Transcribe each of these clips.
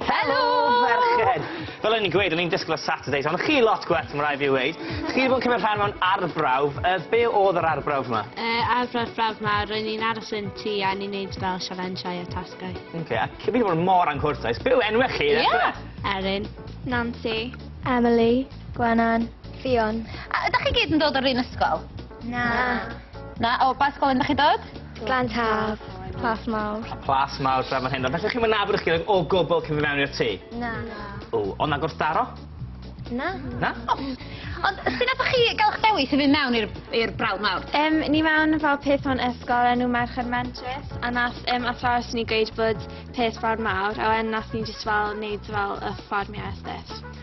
Helo! Merched! Fel o'n i'n gweud, o'n i'n disgwl y Saturdays, ond chi lot gwell, ma' rai' fi weud. Chi 'di bod yn cymryd rhan mewn arbrawf, yy be' odd yr arbrawf 'ma? Yy arbrawf brawf 'ma ro'n ni'n aros yn tŷ a ni'n neud fel sialenshiau a tasgau. Oce a chi 'di bod yn mor anghwrtais. Be' yw enwe chi? Ie! Erin. Nansi. Emily. Gwenan. Ffion. A ydach chi gyd yn dod o'r un ysgol? Na. Na? O ba ysgol un dach chi dod? Glan Taf, Plas Mawr. Plas Mawr, Dref fan hyn. Ond felly chi'n mynd nabod eich gilydd o gwbl cyn fy mewn i'r tŷ? Na. Na. O, ond na gwrthdaro? Na. Na? O. Ond sy'n nath chi gael eich dewis i fynd mewn i'r brawd mawr? Um, ni mewn fel peth o'n ysgol enw Merched Mentrus, a nath um, athrawes ni gweud bod peth brawd mawr, a wedyn nath ni jyst fel wneud fel y fformiau a stuff.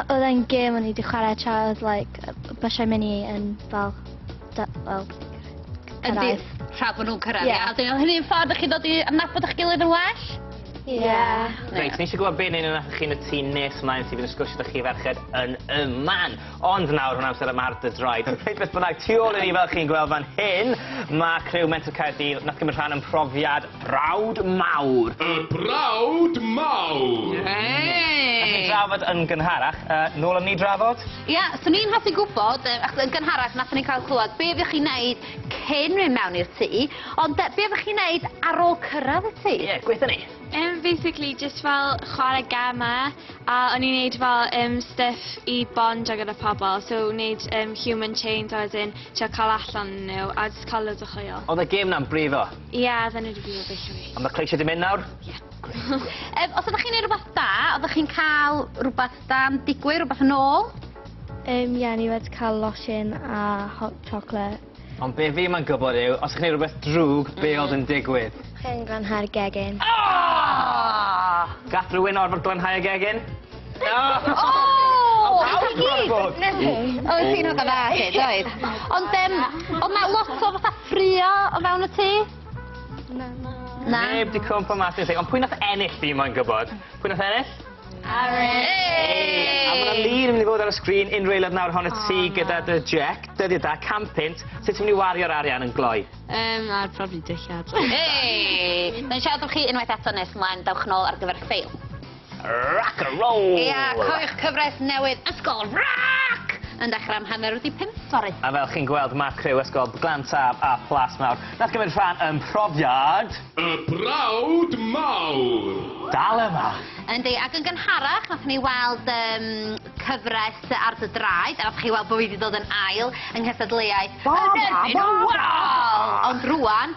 Oedd e'n gêm o'n i wedi chwarae tra oedd like, bysiau mynd i yn fel, fel cyrraedd. Tra bod nhw'n cyrraedd, ie. Yeah. Yeah. Hynny'n ffordd ydych chi'n dod i adnabod eich gilydd yn well? Ie. Yeah. Reit, nes i gwybod beth ni'n yna chi'n y tu nes ymlaen sydd yn sgwrsio ydych chi ferched yn y man. Ond nawr hwn amser yma ar dy droed. Reit, beth bynnag, tu ôl i ni fel chi'n gweld fan hyn, mae criw Mentor Caerdydd nath gymryd rhan yn profiad Brawd mawr! Y brawd mawr! Allen ni drafod yn gynharach. Yy, nôl am ni drafod? Ia, swn i'n hoffi gwybod, yy, achos yn gynharach nathon ni cael clywed be' oeddech chi'n neud cyn mynd mewn i'r tŷ, ond yy, be' oeddech chi'n neud ar ôl cyrraedd y tŷ? Ie, gweitho ni. Yym basically jyst fel chwarae gemau a o'n i'n neud fel yym stuff i bondio gyda pobl so neud yym human chains a wedyn trio cael allan nhw a jyst cael loads o hwyl. Oedd y gêm 'na'n brifo? Ia, da ni wedi byw o bell oes. A mae cleisio di mynd nawr? Ia. Ef, os ydych chi'n ei rhywbeth da, ydych chi'n cael rhywbeth da yn digwydd, rhywbeth yn ôl? Um, ia, ni wedi cael losin a hot chocolate. Ond be fi mae'n gwybod yw, os ydych chi'n ei rhywbeth drwg, be mm. oedd yn digwydd? Chi'n glanhau'r gegin. Ah! Gath rhywun orfod glanhau y gegin? Oedd ti'n hwnna dda chi, doedd? Ond um, oedd na lot o fatha ffrio o fewn y tŷ? Na. Na? Neb di cwmpa mas i'r tŷ, ond pwy nath ennill fi moyn gwybod? Pwy nath ennill? Aaron! A mae'na lun yn mynd i fod ar y sgrin unrhyw eilad nawr hon y tŷ ah. gyda dy Jack, dyddi da, cam pint, sut ti'n mynd i wario'r arian yn gloi? Um, ar probably dillad. Hey! Mae'n siarad am chi unwaith eto nes mlaen, dawch nôl ar gyfer ffeil. Rock a roll! Ia, cofiwch cyfres newydd Ysgol Roc! yn dechrau am hanner wedi pump fory. A fel chi'n gweld, mae criw Ysgol Glan Taf a Plas Mawr, nath gymryd rhan yn profiad... Y brawd mawr! Dal yma! Yndi, ac yn gynharach, nath ni weld um, cyfres ar dy draed, a nath chi weld bod fi wedi dod yn ail yng nghystadleuaeth... Bob, bob, bob! Ond rwan,